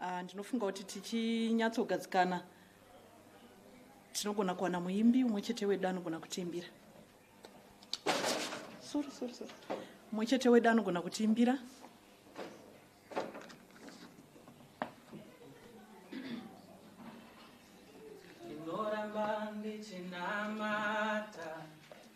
Ah, ndinofunga kuti tichinyatsogadzikana tinogona kuwana muimbi umwe chete wedu anogona kutiimbira sorry sorry sorry umwe chete wedu anogona kutiimbira ndinoramba ndichinamata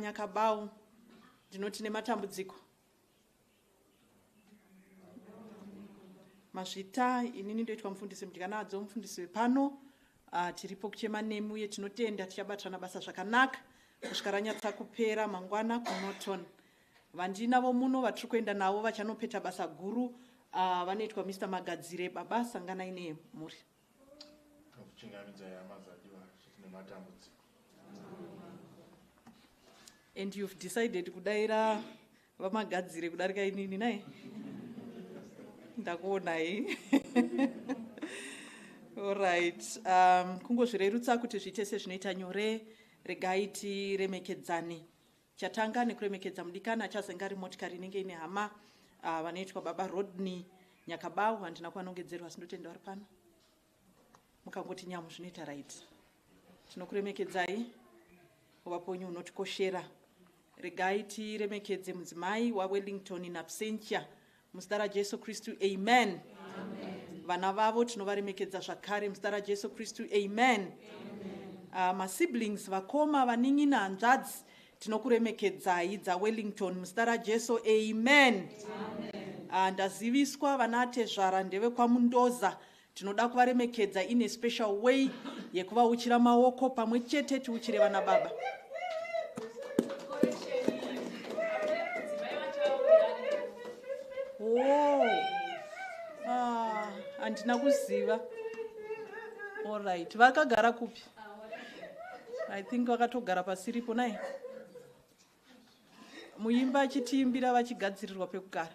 Nyakabau ndinoti nematambudziko mazvita inini ndoitwa mufundisi mudyanadzo mufundisi wepano uh, tiripo kuchema nemi uye tinotenda tichabatirana basa zvakanaka kusvika ranyatsa kupera mangwana kunoton vandinavo muno vatiri kuenda navo vachanopeta basa guru uh, vanoitwa mr magadzire baba sanganai nemhuri Tinokuchingamidzai hama dzadiwa zviti nematambudziko. And you've decided kudaira vamagadzire kudarika inini nai ndakuonai allright um, kungozvirerutsa kuti zviite sezvinoita nyore regai tiremekedzane Chatanga nekuremekedza mudikani achazenga ari motikari inenge ine hama uh, vanoitwa baba Rodney Nyakabawu. Handina kuvanongedzerwa asi ndotenda vari pano. Mukangoti nyamu zvinoita right. Tinokuremekedzai uvaponyu unotikoshera. Regai tiremekedze mudzimai waWellington in absentia Muzita raJesu Kristu, amen. Vana vavo tinovaremekedza zvakare muzita raJesu Kristu, amen. Ah, Masiblings, vakoma, vanin'ina, hanzvadzi, tinokuremekedzai dzaWellington muzita raJesu, amen. Ah, Ndaziviswa vana atezvara ndevekwaMundoza Tinoda kuvaremekedza in a special way yekuvauchira maoko pamwe chete tiuchire vana baba. Oh. Ah, handina kuziva. All right. Vakagara kupi? I think vakatogara pasiripo naye. Muimba achitiimbira vachigadzirirwa pekugara.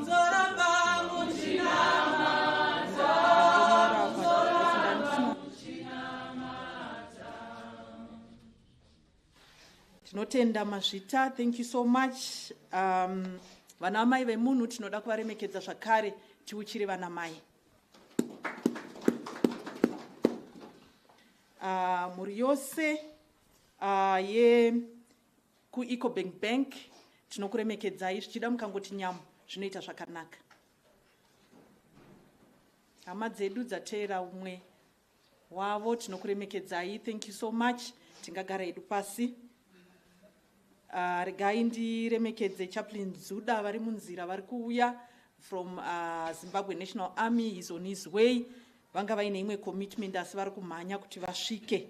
tinotenda mazvita thank you so much um, vana amai vemunhu tinoda kuvaremekedza zvakare tiuchire vana mai uh, mhuri yose uh, ye KuEcobank Bank tinokuremekedzai zvichida mukangoti nyamu zvinoita zvakanaka. Hama dzedu dzateera umwe wavo tinokuremekedzai thank you so much tingagara hedu pasi. Uh, regai ndiremekedze chaplain Zuda vari munzira vari kuuya from uh, Zimbabwe National Army is on his way Vanga vaine imwe commitment asi vari kumhanya kuti vasvike.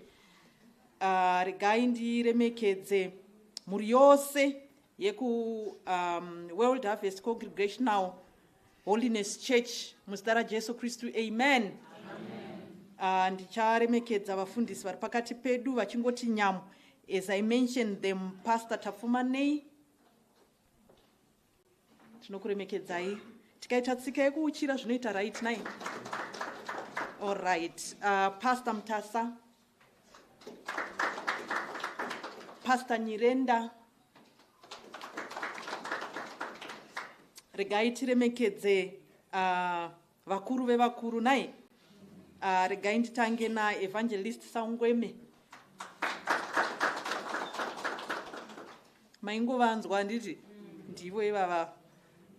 Uh, regai ndiremekedze mhuri yose yeku um, World Harvest Congregational Holiness Church muzita raJesu Kristu. Amen. Uh, ndicharemekedza vafundisi vari pakati pedu vachingoti nyamu as I mentioned them Pastor Tafumanei tinokuremekedzai tikaita tsika yekuuchira zvinoita right nai allright uh, pastor mutasa pastor nyirenda regai tiremekedze uh, Vakuru vevakuru nai uh, regai nditange naevangelist Sangweme. Maingovanzwa handiti ndivo ivava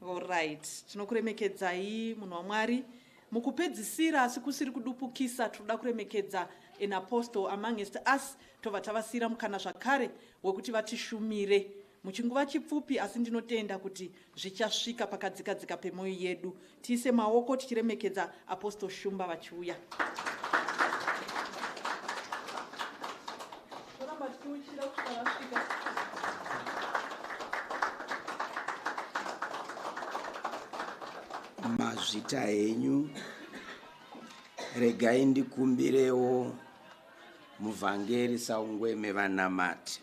oright. Tinokuremekedzai munhu waMwari. Mukupedzisira asi kusiri kudupukisa tinoda kuremekedza an apostle amongst us tobva tavasiyira mukana zvakare wekuti vatishumire Muchinguva chipfupi asi ndinotenda kuti zvichasvika pakadzika dzika pemoyo yedu. Tiise maoko tichiremekedza Apostle Shumba vachiuya. Mazvita henyu regai ndikumbirewo muvhangeri saungweme vanamati.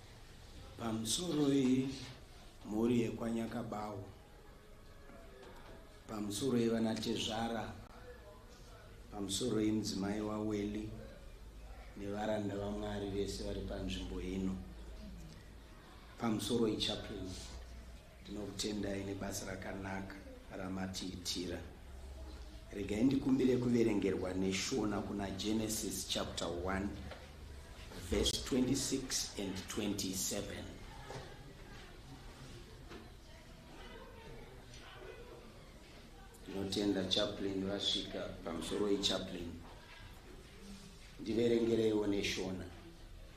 Pamusoroi mhuri yekwaNyakabawu, pamusoroi vana tezvara, pamusoroi mudzimai waWelly nevaranda vaMwari vese vari panzvimbo ino, pamusoroi chaplain Ndinokutendai nebasa rakanaka ramatiitira. Regai ndikumbire kuverengerwa neshona kuna Genesis chapter 1 verse 26 and 27. Ndinotenda chaplain vasvika pamusoro wechaplain. Ndiverengereiwo neshona.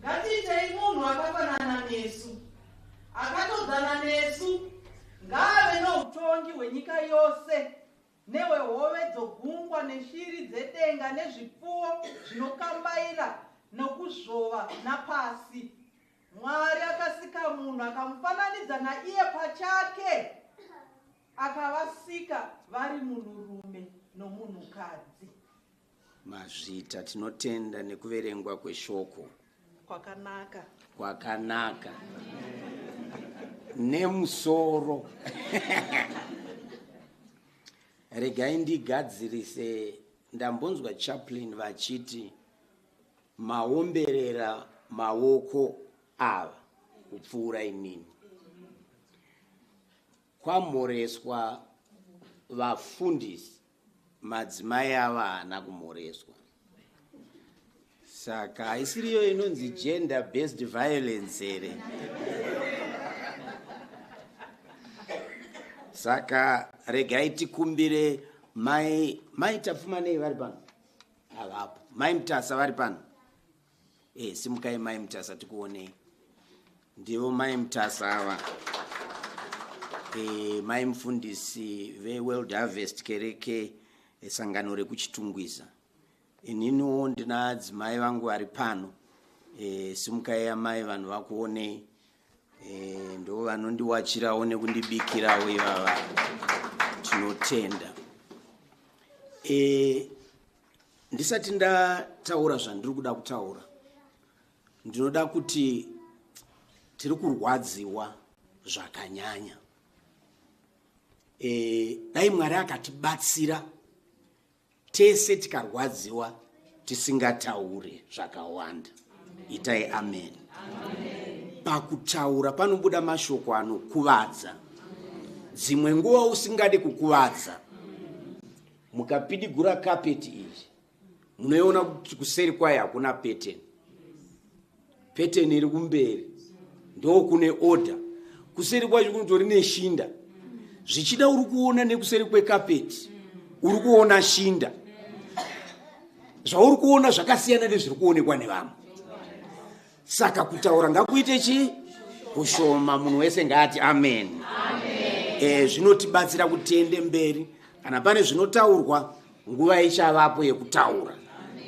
Ngatiitei munhu akafanana nesu, akatodzana nesu, ngaave noutongi hwenyika yose nehwehove dzogungwa neshiri dzedenga nezvipfuwo zvinokambaira nokuzvova napasi. Mwari akasika munhu akamufananidza naiye pachake. Akavasika vari munhurume nomunhukadzi. Mazvita, tinotenda nekuverengwa kweshoko. Kwakanaka. Kwakanaka. Nemusoro. Regai ndigadzirise ndambonzwa chaplain vachiti maomberera maoko ava kupfuura imini Kwamhoreswa vafundisi madzimai ava haana kumhoreswa saka haisiriyo inonzi gender based violence here saka regai tikumbire mai mai tapfumanei vari pano havapo mai mutasa vari pano e simukai mai mutasa tikuonei ndivo mai mutasa ava e, mai mufundisi veworld harvest kereke esangano rekuchitungwiza ininiwo ndina adzimai vangu vari pano e, simukai amai vanhu vakuonei e, ndo vanondiwachirawo nekundibikirawo ivava tinotenda e, ndisati ndataura zvandiri kuda kutaura ndinoda kuti tiri kurwadziwa zvakanyanya e, dai mwari akatibatsira tese tikarwadziwa tisingataure zvakawanda itai amen, amen. pakutaura panobuda mashoko anokuvadza dzimwe nguva usingadi kukuvadza mukapidigura kapeti iri munoiona kuti kuseri kwayo hakuna pattern pattern iri kumberi ndokune order kuseri kwacho kunotori neshinda zvichida uri kuona nekuseri kwekapeti uri kuona shinda zvauri kuona zvakasiyana nezviri kuonekwa nevamwe saka kutaura ngakuite chii kushoma munhu wese ngaati amen, amen. E, zvinotibatsira kutende mberi kana pane zvinotaurwa nguva ichavapo yekutaura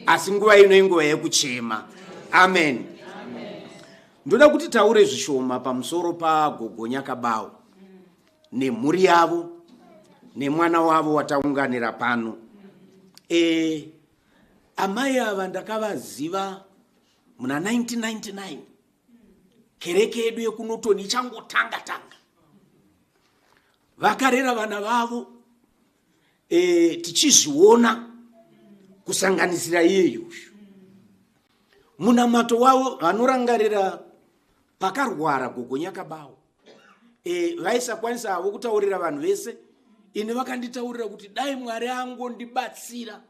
asi nguva ino inguva yekuchema amen ndoda kuti taure zvishoma pamusoro pagogonya kabawo nemhuri yavo nemwana wavo wataunganira pano e, amai ava ndakavaziva muna 1999 kereke yedu yekunotoni ichangotanga tanga vakarera vana vavo e, tichizviona kusanganisira iyeye uyu munamato wavo vanorangarira pakarwara gogo nyakabawo e, eh, vaisakwanisa havo kutaurira vanhu vese ini vakanditaurira kuti dai mwari angondibatsira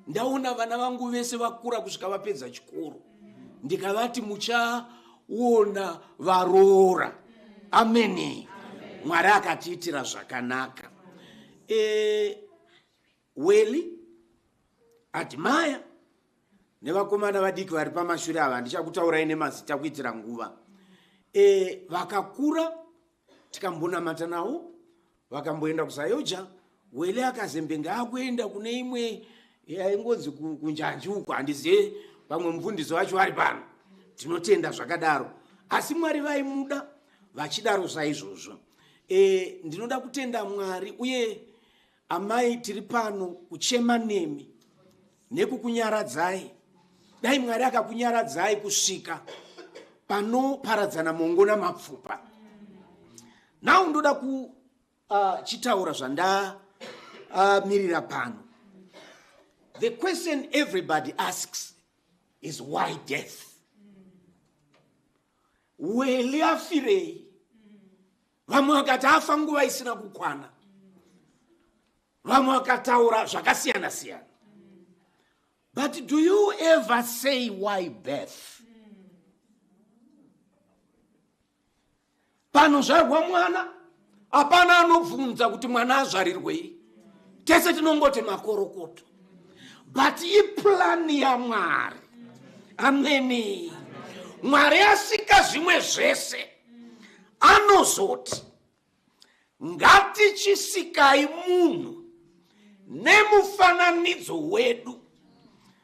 ndaona vana vangu vese vakura kusvika vapedza chikoro ndikavati muchaona varoora ameni mwari akatiitira zvakanaka e, weli admire nevakomana vadiki vari pamashure ava handichakutaurai nemazita kuitira nguva e, vakakura tikambonamata nawo vakamboenda kusayoja wele akazembenge akuenda kune imwe yaingonzi kunjanji uko handizive vamwe mufundisi vacho vari pano tinotenda zvakadaro asi mwari vaimuda vachidaro saizvozvo e, ndinoda kutenda mwari uye Amai tiri pano kuchema nemi nekukunyaradzai. Dai Mwari akakunyaradzai kusvika panoparadzana mongo namapfupa. Now ndoda kuchitaura uh, zvandamirira uh, pano. The question everybody asks is why death? Wele afirei? vamwe vakati afa nguva isina kukwana vamwe vakataura zvakasiyana siyana but do you ever say why birth panozvarwa mwana hapana anobvunza kuti mwana azvarirwei tese tinongoti makorokoto but iplani yamwari ameni mwari asika zvimwe zvese anozoti ngatichisikai munhu nemufananidzo wedu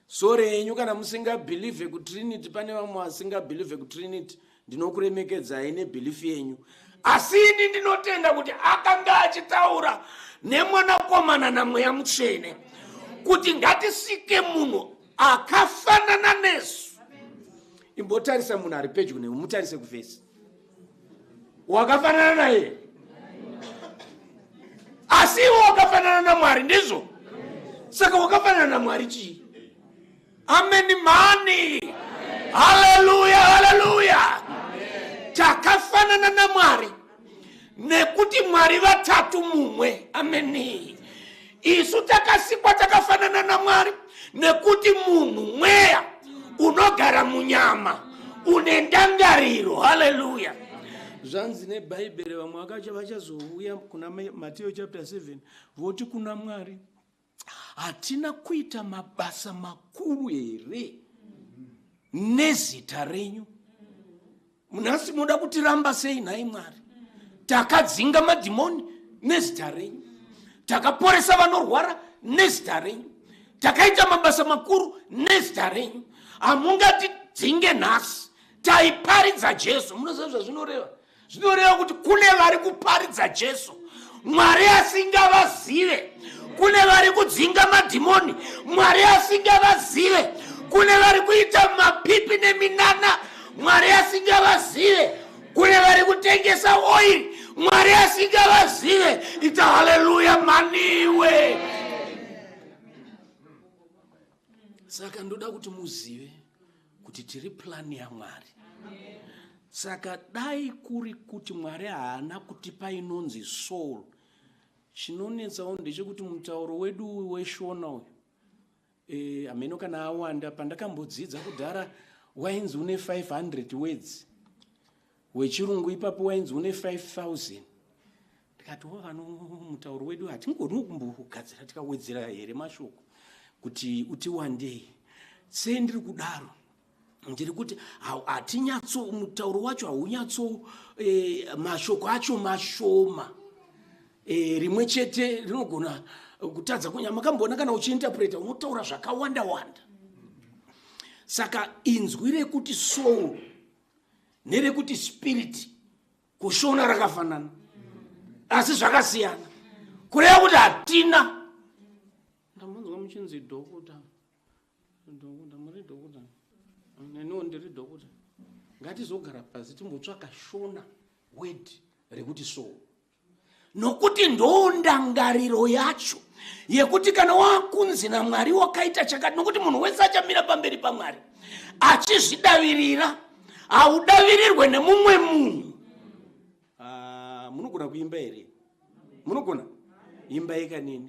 sore henyu kana musingabhilivhe kutrinity pane vamwe vasingabhilivhe kutrinity ndinokuremekedzai nebelief yenyu asi ini ndinotenda kuti akanga achitaura nemwanakomana namweya mutsvene kuti ngatisike munhu akafanana nesu imbotarisa munhu ari pedyo newe mutarise kuvhesi wakafanana naye asi iwe wakafanana namwari ndizvo saka wakafanana namwari chii Ameni mani. Haleluya, haleluya. Takafanana naMwari nekuti Mwari vatatu mumwe. Ameni. Isu takasikwa takafanana naMwari nekuti munhu mweya unogara munyama une ndangariro. Haleluya. zvanzi nebhaibheri vamwe vakacha vachazouya kuna Ma- mateo chapter 7 voti kuna mwari hatina kuita mabasa makuru here nezita renyu nhasi munoda kutiramba sei nhai mwari takadzinga madhimoni nezita renyu takaporesa vanorwara nezita renyu takaita mabasa makuru nezita renyu hamungatidzinge nhasi taiparidza jesu munoziva zvazvinoreva zvinoreva kuti kune vari kuparidza jesu mwari asingavazive kune vari kudzinga madhimoni mwari asingavazive kune vari kuita mapipi neminana mwari asingavazive kune vari kutengesa oiri mwari asingavazive ita haleluya maniwe saka ndoda kuti muzive kuti tiri plani yamwari saka dai kuri kuti mwari haana kutipa inonzi soul chinonetsawo ndechekuti mutauro wedu uyu weshona uyu e, hameno kana awanda pandakambodzidza kudhara wainzi une 500 wedzi wechirungu ipapo wainzi une 5000 ndikati wavano mutauro wedu hatingoni kumbogadzira tikawedzera here mashoko kuti utiwandei sei ndiri kudaro ndiri kuti hatinyatso mutauro wacho haunyatso e, mashoko acho mashoma e, rimwe chete rinogona kutadza kunya makamboona kana uchiinterpreta unotaura zvakawanda wanda saka inzwi rekuti soul nerekuti spirit kushona rakafanana asi zvakasiyana kureva kuti hatina ndamunzwa muchinzi dokota dokota muri dokota neniwo ndiri dokota ngatizogara pasi timbotsvaka shona word rekuti so nokuti ndondangariro yacho yekuti kana wakunzi namwari wakaita chakati nokuti munhu wese achamira pamberi pamwari achizvidavirira haudavirirwe nemumwe munhu ah, munogona kuimba here munogona imba yekanini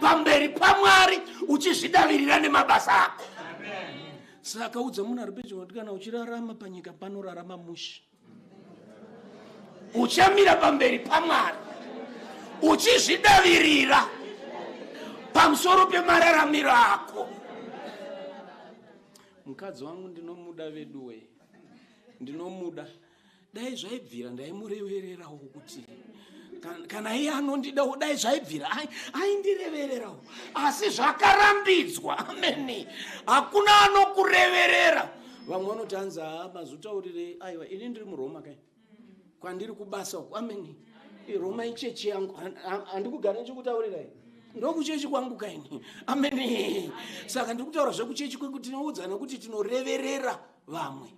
pamberi pamwari uchizvidavirira nemabasa ako saka udza munhu ari pedyo kuti kana uchirarama panyika panorarama mushe uchamira pamberi pamwari uchizvidavirira pamusoro pemararamiro ako mukadzi wangu ndinomuda veduwee ndinomuda dai zvaibvira ndaimurevererawo kuti kana iye anondidawo dai zvaibvira aindirevererawo asi zvakarambidzwa amene hakuna anokureverera vamwe vanoti hanzi haa mazutaurire aiwa ini ndiri muroma kai kwandiri kubasa uku amene roma ichechi yangu handikugara ndichikutaurirai ndokuchechi kwangu kaini amene saka ndiri kutaura zvekuchechi kwekuti tinoudzana kuti tinoreverera vamwe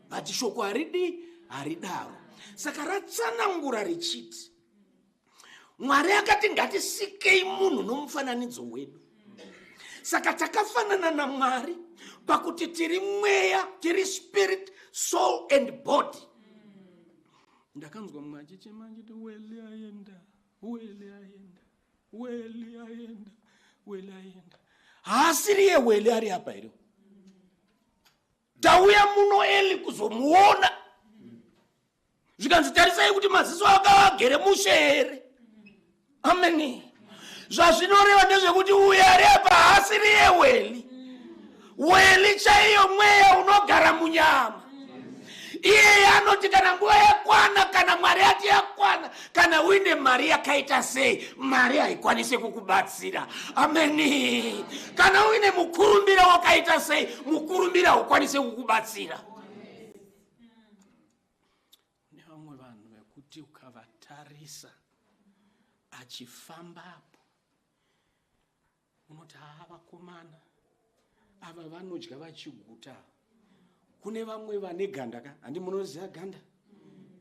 vati shoko haridi haridaro saka ratsanangura richiti mwari akati ngatisikei munhu nomufananidzo wedu saka takafanana namwari pakuti tiri mweya tiri spirit soul and body ndakanzwa mumwe achichema achiti weli aenda weli aenda weli aenda weli aenda haasiriye weli ari apa here tauya muno eli kuzomuona zvikanzi tarisai kuti maziso ake agere mushe here ameni zvazvinoreva ndezvekuti uyo ari apa haasiri yeweli weli chaiyo mweya unogara munyama iyeye anoti kana nguva yakwana kana mwari yati yakwana kana uine mari yakaita sei mari haikwanise kukubatsira ameni kana uine mukurumbira wakaita sei mukurumbira haukwanise kukubatsira kune vamwe vanhu vekuti ukavatarisa achifamba apo unoti haa vakomana ava vanodya vachiguta kune vamwe vane ganda ka handi munoziva ganda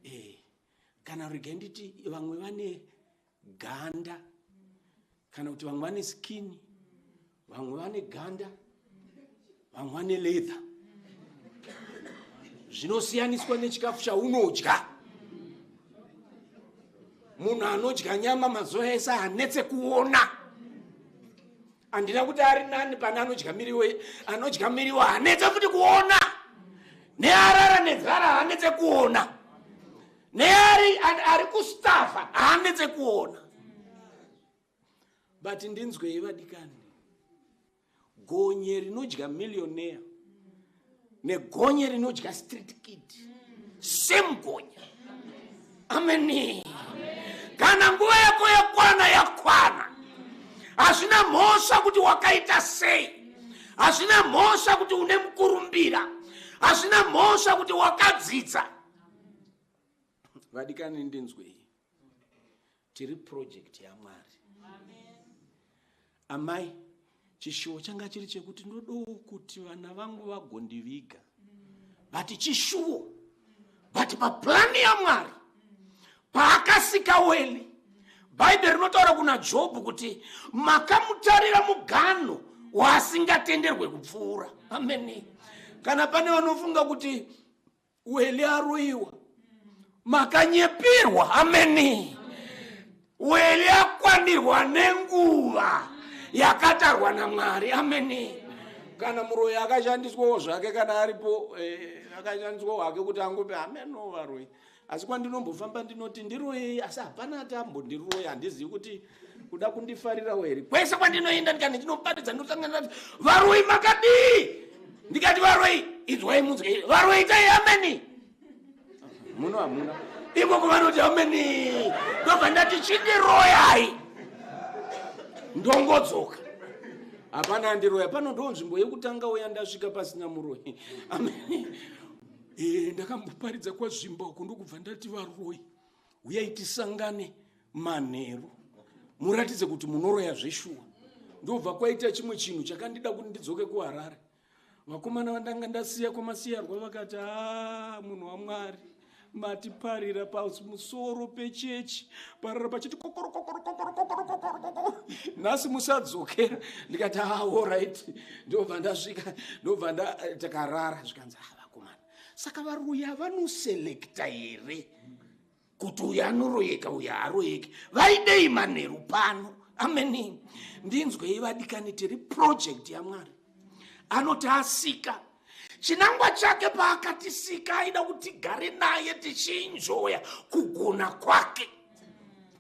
e kana regai nditi vamwe vane ganda kana kuti vamwe vane skini vamwe vane ganda vamwe vane leather zvinosiyaniswa nechikafu chaunodya munhu anodya nyama mazuva ese hanetse kuona handina kuti ari nani pane anodya miriwo anodya miriwo hanetse futi kuona nearara nenzara hanetse kuona neari ari kustafa hanetse kuona but ndinzwei vadikani gonye rinodya millionaire negonye rinodya street kid same gonye ameni kana nguva yako yakwana yakwana hazvina mhosva kuti wakaita sei hazvina mhosva kuti une mukurumbira hazvina mhosva kuti wakadzidza vadikani ndinzwei tiri project yamwari amai chishuwo changa chiri chekuti ndodowo kuti vana vangu vagondiviga vati chishuwo but paplani yamwari paakasika weli bhaibheri rinotaura kuna jobhu kuti makamutarira muganho waasingatenderwe kupfuura ameni kana pane vanofunga kuti weli aroiwa makanyepirwa ameni weli akwanirwa nenguva yakatarwa namwari ameni kana muroyi akashandiswawo zvake kana aripo eh, akashandiswawo hake kuti angope hameno varoyi asi kwandinombofamba ndinoti ndiroyei asi hapana ati ambondiroya handizivi kuti kuda kundifarirawo here kwese kwandinoenda ndikati ndichinopatidza ndosangana nati varoi makadii ndikati varoi inzwai munzwa varoi itai ameni muno hamuna ikoko vanoti ameni ndobva ndati chindiroyai ndongodzoka hapana andiroya pano ndo nzvimbo yekutanga uya ndasvika pasina muroyi ameni eh, ndakamboparidza kwazvimba uko ndokubva ndati varoi huyai tisangane manheru muratidze kuti munoroya zveshuwa ndobva kwaita chimwe chinhu chakandida kuti ndidzoke kuharare vakomana vandanga ndasiya kwamasiyarwa vakati a munhu wamwari matiparira pamusoro pechechi parira pachiti nhasi musadzokera ndikati aorit ndobva ndasvika ndobva takarara zvikanzi vakomana saka varoya vanoselekta here kuti uyo anoroyeka uyo haaroyeki vaidei manheru pano ameni ndinzwei vadikani tiri project yamwari anoti asika chinangwa chake paakatisika aida kuti gare naye tichinjoya kugona kwake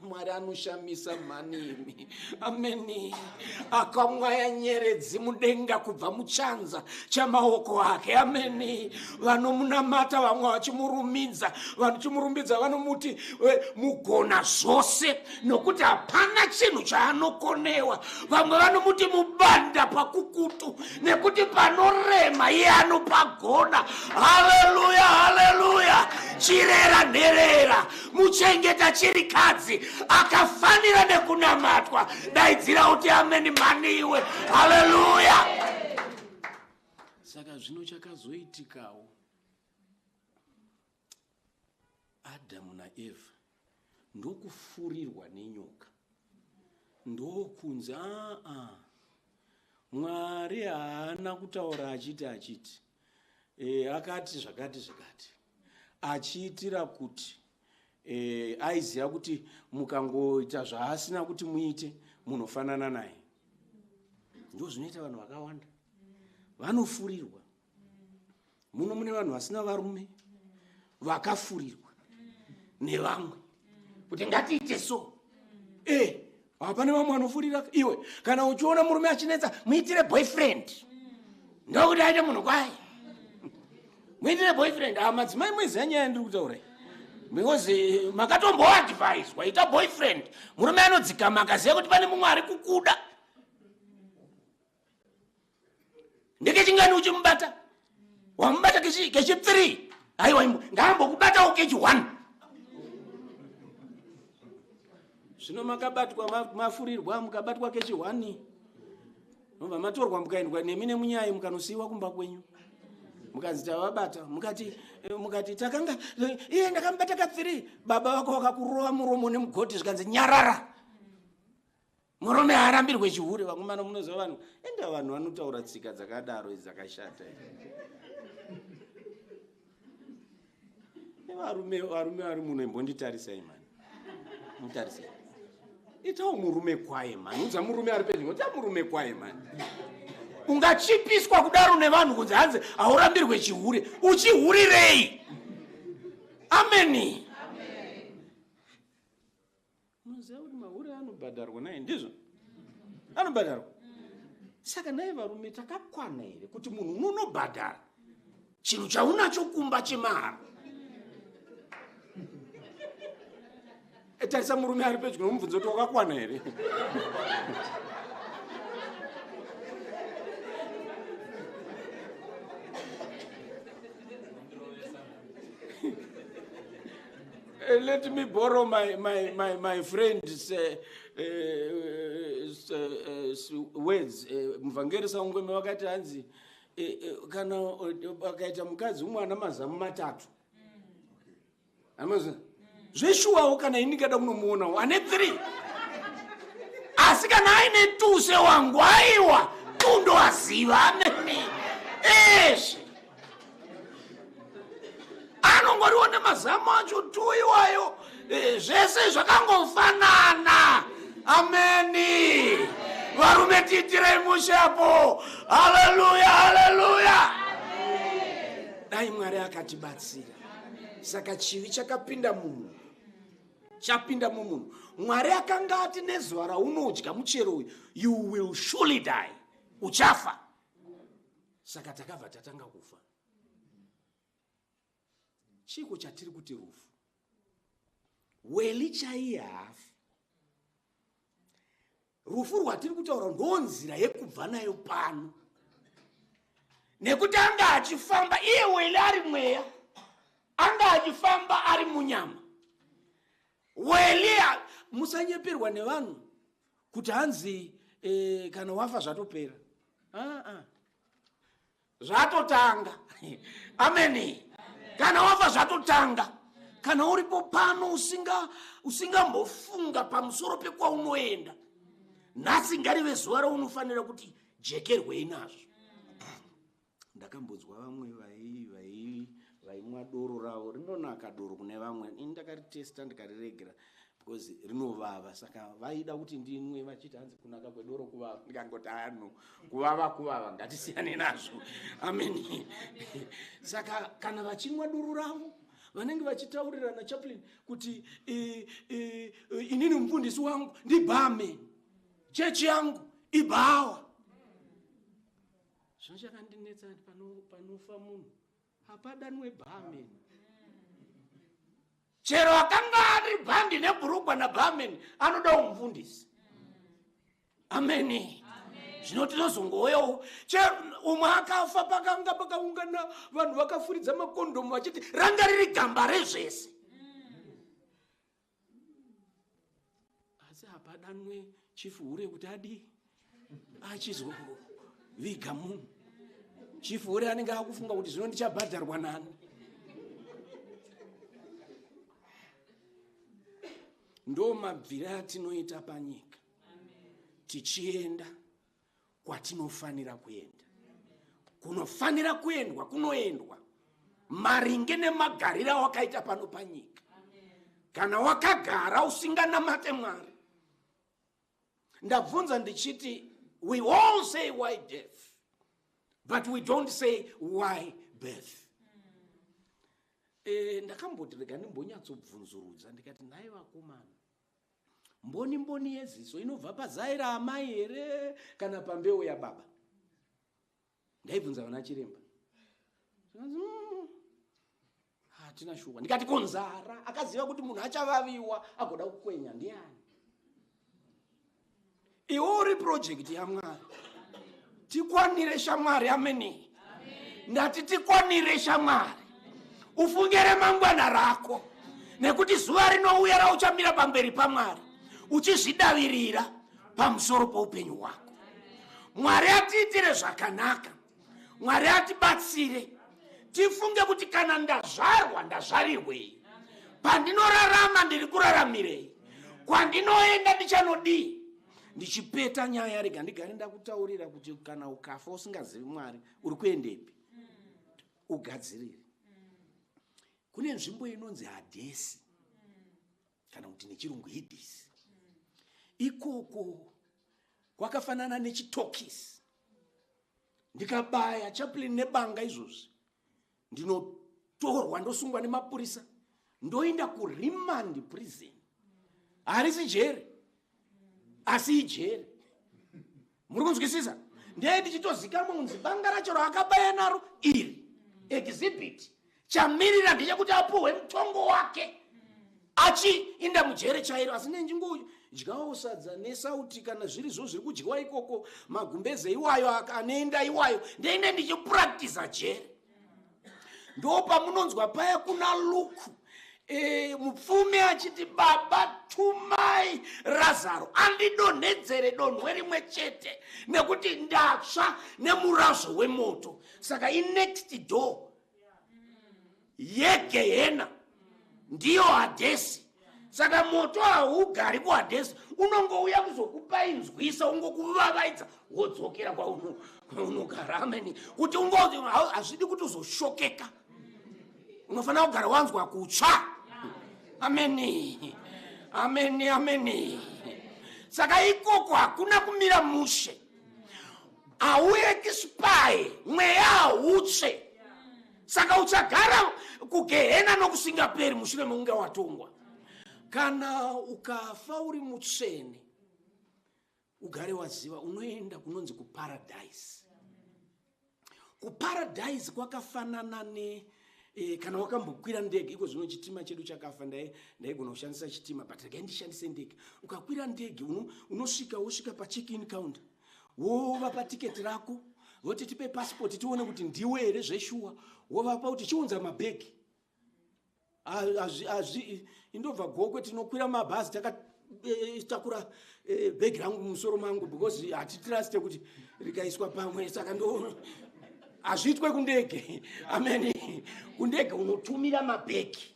mwari anoshamisa mhanimi ameni akamwaya nyeredzi mudenga kubva muchanza chamaoko ake ameni vanomunamata vamwe vachimurumidza vanochimurumbidza vanomuti eh, mugona zvose nokuti hapana chinhu chaanokonewa vamwe vanomuti mubanda pakukutu nekuti panorema iye anopagona haleluya haleluya chirera nherera muchengeta chirikadzi akafanira nekunamatwa daidzira uti ameni mhani iwe haleluya saka zvino chakazoitikawo adamu naeva ndokufurirwa nenyoka ndokunzi aa mwari haana kutaura achiti achiti e, akati zvakati zvakati achiitira kuti e, aiziva kuti mukangoita zvaasina kuti muite munofanana naye ndo zvinoita vanhu vakawanda vanofurirwa muno mune vanhu vasina varume vakafurirwa nevamwe kuti ngatiite so e hapane vamwe vanofurira iwe kana uchiona murume achinetsa muitire boyfriend ndokuti aite munhu kwaye muitire boyfriend a ah, madzimai mweziya nyaya ndiri kutaura because eh, makatomboadviswa ita boyfriend murume anodzikama akaziva kuti pane mumwe ari kukuda ndeke chingani uchimubata wamubata kechipfirii aiwa ngaambokubatawo kechi one zvino makabatwa mafurirwa mukabatwa kechi one nobva matorwa mukaendwa nemi nemunyayi mukanosiyiwa kumba kwenyu mukanzi tavabata mukati eh, mukati takanga eh, iye ndakamubata kapfiri baba vako vakakurova muromo nemugoti zvikanzi nyarara murume haarambirwe chihure vakomana munoziva vanhu enda vanhu vanotaura tsika dzakadaro idzi dzakashata varume varume vari muno imbonditarisai mani mutarisai itawo murume kwaye mani udza murume ari pedyo ita murume kwaye mani ungachipiswa kudaro nevanhu kunzi hanzi haurambirwe chihure uchihurirei ameni Munoziva kuti mahure anobhadharwa naye ndizvo? Anobhadharwa. Saka naye varume takakwana here kuti munhu unonobhadhara chinhu chaunacho kumba chemahara? Eh, tarisa murume ari pedyo nomubvunzo kuti wakakwana here? Uh, let me borrow my, my, my, my friend's uh, uh, words muvhangeri saungweme vakati hanzi kana vakaita mukadzi umwe ana mazamu matatu mm. zveshuwawo kana ini ndikada kunomuonawo ane three asi kana aine tuse wangu aiwa tundoaziva amene eshe anongoriwo nemazamu acho tu iwayo eh, zvese zvakangofanana ameni varume tiitirei mushe apo haleluya haleluya dai mwari akatibatsira saka chivi chakapinda mumunhu chapinda mumunhu mwari akanga ati nezuva raunodya muchero uyu you will surely die uchafa saka takabva tatanga kufa chiiko chatiri kuti rufu weli chaiye haafi rufu rwatiri kutaura ndonzira yekubva nayo pano nekuti anga achifamba iye weli ari mweya anga achifamba ari munyama weli musanyeperwa nevanhu kuti hanzi e, kana wafa zvatopera ah, ah. zvatotanga ameni kana wafa zvatotanga kana uripo pano usingambofunga usinga pamusoro pekwaunoenda nhasi ngarive zuva raunofanira kuti jekerwei nazvo ndakambonzwa vamwe vaimwa doro ravo rinonaka doro kune vamwe ini ndakaritesta ndikariregera because rinovava saka vaida kuti ndinwe vachiti hanzi kunaka kwedoro kuvava ndikangoti ano kuvava kuvava ngatisiyane nazvo amen saka kana vachinwa doro ravo vanenge vachitaurirana chaplin kuti e, e, e, inini mufundisi wangu ndibhame chechi yangu ibhawa Zvino chakandinetsa kuti pano, panofa munhu hapadanwe barman chero akanga ari bhandi nebhurugwa nabarman anodawo mufundisi ameni zvino tinozongowoyawo chero umwe akafa pakanga pakaungana vanhu vakafuridza makondomu vachiti ranga riri gamba rezvese asi hapadanwe chifu hure kuti adii achizoviga munhu chifu hure anenge akufunga kuti zvino ndichabhadharwa nani ndo mabvire atinoita panyika tichienda kwatinofanira kuenda kunofanira kuendwa kunoendwa maringe nemagariro awakaita pano panyika kana wakagara usinganamate mwari ndabvunza ndichiti we all say why death but we don't say why birth e, ndakamboti rega ndimbonyatsobvunzurudza ndikati nhai vakomana mboni mboni yeziso inobva pazai raamai here kana pambeu yababa ndaibvunza vana chiremba mm, hatina mm, shuwa ndikati konzara akaziva kuti munhu achavaviwa agoda kukwenya ndiani iwo uri project yamwari tikwanire shamwari ameni ndati tikwanire shamwari ufunge remangwana rako nekuti zuva rinouya rauchamira pamberi pamwari uchizvidavirira pamusoro poupenyu hwako mwari atiitire zvakanaka mwari atibatsire tifunge kuti kana ndazvarwa ndazvarirwei pandinorarama ndiri kuraramirei kwandinoenda ndichanodii ndichipeta nyaya rega ndigare ndakutaurira kuti kana ukafa usingazivi mwari uri kuendepi ugadzirire kune nzvimbo inonzi hadhesi kana kuti nechirungu hidhisi ikoko kwakafanana nechitokisi ndikabaya chaplin nebanga izvozvi ndinotorwa ndosungwa nemapurisa ndoenda kuremand prison harisi jeri asi ijeri muri kunzwisisa ndee ndichitozikamwa kunzi banga racho raakabaya naro iri exhibit chamirira ndechekuti apuhwe mutongo wake achiinda mujere chairo asi nenjingodyawo sadza nesauti kana zviri zvo zviri kudyiwa ikoko magumbeze iwayo anoenda iwayo ndeine ndichipractiza jere ndo pamunonzwa paya kuna luku e, mupfumi achiti baba tumai razaro andidonhedzere donhwe rimwe chete nekuti ndatsva nemurazvo wemoto saka inext door yegehena ndiyo hadhesi saka moto haugari kuhadhesi unongouya kuzokupainzwisa ungokuvavaidza wodzokera kwaunogara ameni kuti hazvidi kuti uzoshokeka unofanira kugara wanzwa kutsva ameni ameni ameni saka ikoko hakuna kumira mushe mm. hauye kispaye mweya hautsve saka uchagara kugehena nokusingaperi mushure mekunge watongwa kana ukafa uri mutsvene ugare waziva unoenda kunonzi kuparadise kuparadise kwakafanana ne e, kana wakambokwira ndege iko zvino chitima chedu chakafa ndaigona ndai kushandisa chitima but regai ndishandise ndege ukakwira ndege unosvika uno wosvika pacheck in counter wova patiketi rako voti tipe pasipoti tione kuti ndiwe here zveshuwa wovapa kuti chiunza mabhegi hazvi indobva gokwe tinokwira mabhazi takatakura eh, eh, eh, bhegi rangu mumusoro mangu because hatitruste kuti rikaiswa pamwe saka ndo hazviitwe kundege ameni kundege unotumira mabhegi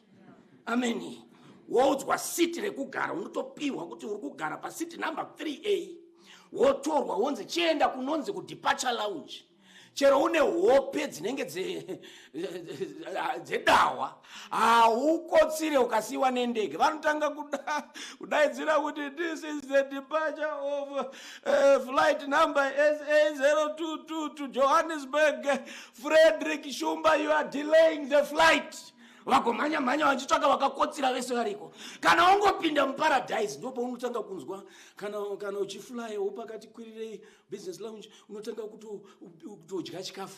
ameni woudzwa siti rekugara unotopiwa kuti uri kugara pasiti number 3 a wotorwa wonzi chienda kunonzi kudeparture lounge chero une hope dzinenge dzedahwa haukotsire ukasiyiwa nendege vanotanga kudaidzira kuti this is the departure of uh, flight number sa0222 to johannesburg frederick shumba you are delaying the flight vagomhanya mhanya vachitsvaka vakakotsira vese variko kana wangopinda muparadise ndopaunotanga kunzwa kana uchiflyewo pakati kwirirei business lounge unotanga kutodya chikafu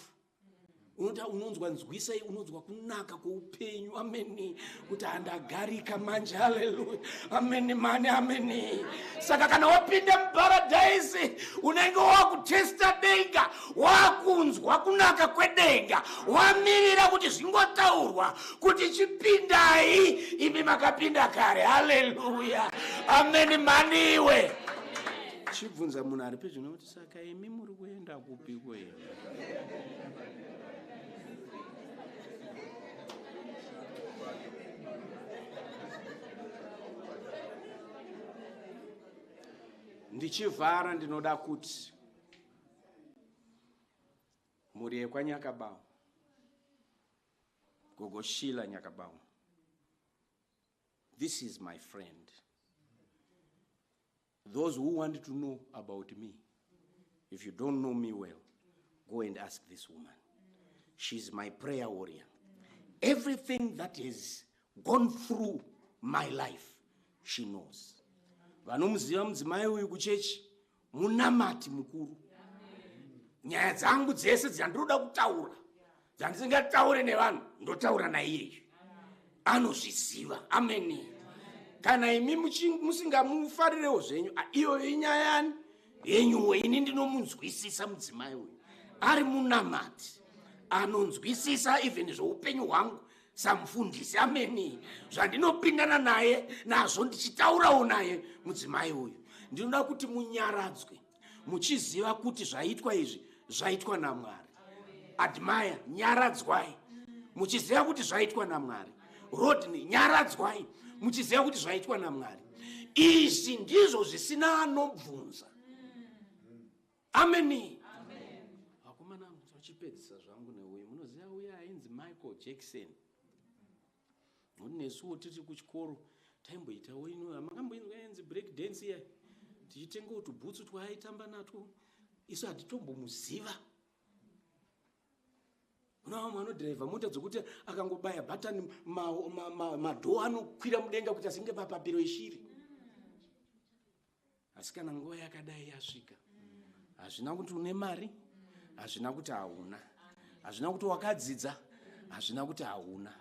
unota unonzwa nzwisai unonzwa kunaka kweupenyu amene kuti handagarika manje haleluya amene mani amene saka kana wapinda muparadhaisi unenge wakutesta denga wakunzwa kunaka kwedenga wamirira kuti zvingotaurwa kuti chipindai imi makapinda kare haleluya amene maniwe chibvunza munhu ari pedyo nokuti saka imi muri kuenda kupi kwenu ndichivhara ndinoda kuti mhuri yekwanyakabawo gogo shila nyakabawo this is my friend Those who want to know about me, if you don't know me well, go and ask this woman. She's my prayer warrior. Everything that has gone through my life, she knows. Vanomuziva mudzimai uyu kuchechi munamati mukuru. Nyaya dzangu dzese dzandinoda kutaura dzandisingataure nevanhu ndotaura naiyeyu anozviziva ameni kana imi musingamufarirewo zvenyu iyoyo inyaya yani yenyuwo ini ndinomunzwisisa mudzimai uyu ari munamati anonzwisisa even zveupenyu hwangu samufundisi ameni zvandinopindana naye nazvo ndichitaurawo naye mudzimai uyu ndinoda kuti munyaradzwe muchiziva kuti zvaitwa izvi zvaitwa namwari admire nyaradzwai muchiziva kuti zvaitwa namwari rodney nyaradzwai muchiziva kuti zvaitwa namwari izvi ndizvo zvisina anobvunza ameni vakomana vachipedzisa zvangu neuyu munoziva uya ainzi michael jackson Nekuti nesuwo tiri kuchikoro taimboitawo ino makamboinzwa yenzi break dance iya tichitengawo tubhutsu twaaitamba natwo isu hatitombomuziva kuna vamwe vanodhiraivha mota dzokuti akangobaya bhatani madhoo anokwira mudenga kuti asinge papapiro yeshiri asi kana nguva yakadai yasvika hazvina kuti une mari hazvina kuti hauna hazvina kuti wakadzidza hazvina kuti hauna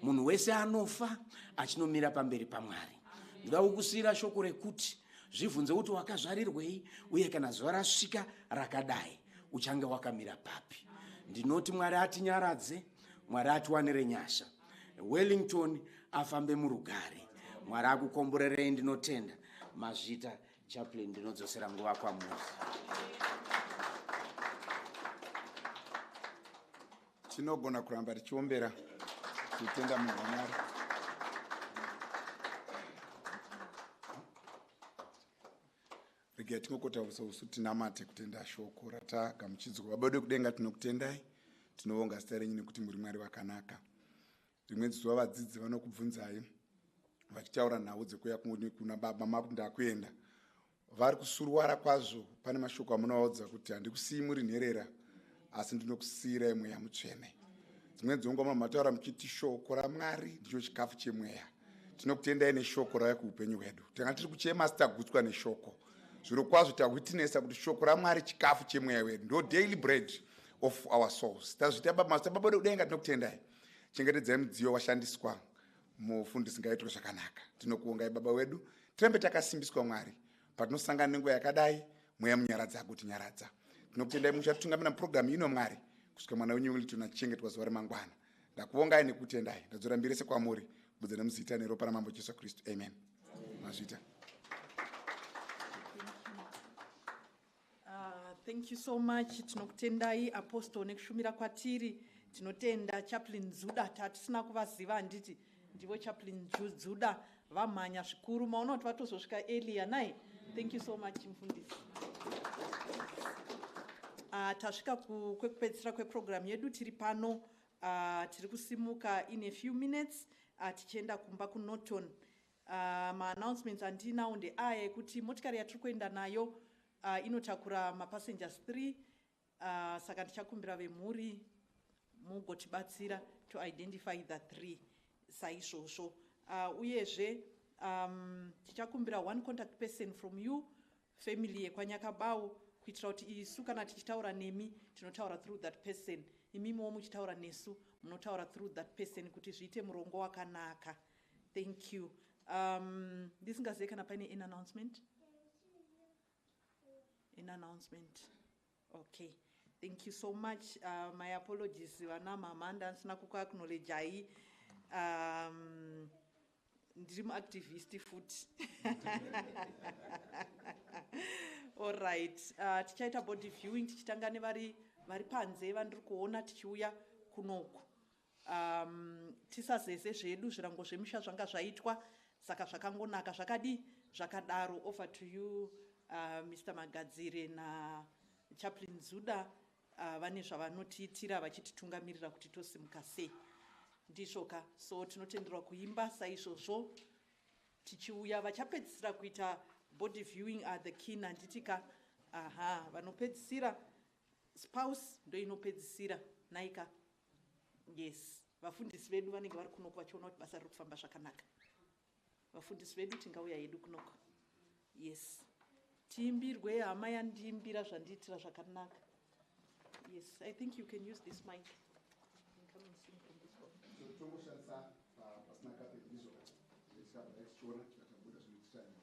munhu wese anofa achinomira pamberi pamwari ndoda kukusiyira shoko rekuti zvibvunze kuti wakazvarirwei uye kana zuva rasvika rakadai uchange wakamira papi ndinoti mwari atinyaradze mwari atiwanire nyasha wellington afambe murugare mwari akukomborerei ndinotenda mazvita chaplin ndinodzosera nguva kwamuri tinogona kuramba tichiombera tichitenda munhu wamwari regai tingokotaurisa usu tinamate kutenda shoko ratagamuchidzwa baba vedu vekudenga tinokutendai tinovonga zita renyu nekuti muri mwari vakanaka rimwe dzizuva vadzidzi vanokubvunzai vachitaura nhau dzekuuya kuna baba makuti ndakuenda vari kusuruwara kwazvo pane mashoko amunovaudza kuti handikusiyi muri nherera asi ndinokusiyirai mweya mutsvene dzimweni dzenguva mama taura muchiti shoko ramwari ndicho chikafu chemweya tinokutendai neshoko rauya kuupenyu hwedu tanga tiri kuchema asi tagutswa neshoko zviro kwazvo tawitnesa kuti shoko ramwari chikafu chemweya wedu ndo daily bread of our souls tazviita bamasa baba vedu kudenga tinokutendai chengetedzai mudziyo washandiswa mufundisi ngaitwe zvakanaka tinokuongai baba wedu tirambe takasimbiswa mwari patinosangana nenguva yakadai mweya munyaradza akuti nyaradza tinokutendai muchatitungamira muprogramu ino mwari kusvika mwana wenyu wemilton achichengetwa zuva remangwana ndakuvongai nekutendai ndadzora mbiri yese kwamuri budza nemuzita neropa ramambo jesu kristu amen mazvita Ah, thank you so much tinokutendai apostle nekushumira kwatiri tinotenda chaplin dzuda tatisina kuvaziva handiti ndivo chaplin dzuda vamhanya zvikuru maona kuti vatozosvika elia nai thank you so much mfundisi ah, tasvika kwekupedzisira kweprogramu yedu tiri pano ah, tiri kusimuka in a few minutes ah, tichienda kumba kunorton Ahh ma announcements andinawo ndeaya ekuti motikari yatiri kuenda nayo ahh inotakura ma passengers three ahh saka ndichakumbira vemhuri mugotibatsira to identify the three saizvozvo ahh uyezve umm tichakumbira one contact person from you family yekwanyakabawo kuitira kuti isu kana tichitaura nemi tinotaura through that person imimiwo muchitaura nesu munotaura through that person kuti zviite murongo wakanaka thank you um, ndisingazive kana paine an announcement an announcement Okay thank you so much uh, my apologies vana mama ndanisina kukuaknowledgei um, ndiri muactivist futi allright uh, tichaita body viewing tichitanga nevari vari panze vandiri kuona tichiuya kunoku Um, tisazeze zvedu zvirango zvemusha zvanga zvaitwa saka zvakangonaka zvakadii zvakadaro over to you uh, mr magadzire nachaplin zuda uh, vane zvavanotiitira vachititungamirira kuti tosimuka sei ndizvoka so tinotenderwa kuimba saizvozvo tichiuya vachapedzisira kuita body viewing are the kin handitika aha vanopedzisira spouse ndoinopedzisira naika Yes vafundisi vedu vanenge vari kunoko vachiona kuti basa riri kufamba zvakanaka. Vafundisi vedu tingauya hedu kunoko. Yes tiimbirwe hama yandiimbira zvandiitira zvakanaka. Yes I think you can use this mic. Come and sing from this one. So tongoshandisa uh, pasina kape ndizvo. Ndisabva tichiona tikatambuda zvinotitanira.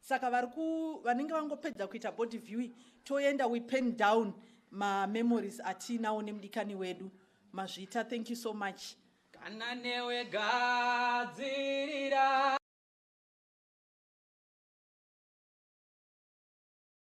saka vari ku vanenge vangopedza kuita body viewing toenda we pen down mamemories atiinawo nemudikani wedu mazvita thank you so much kana newe gadzirira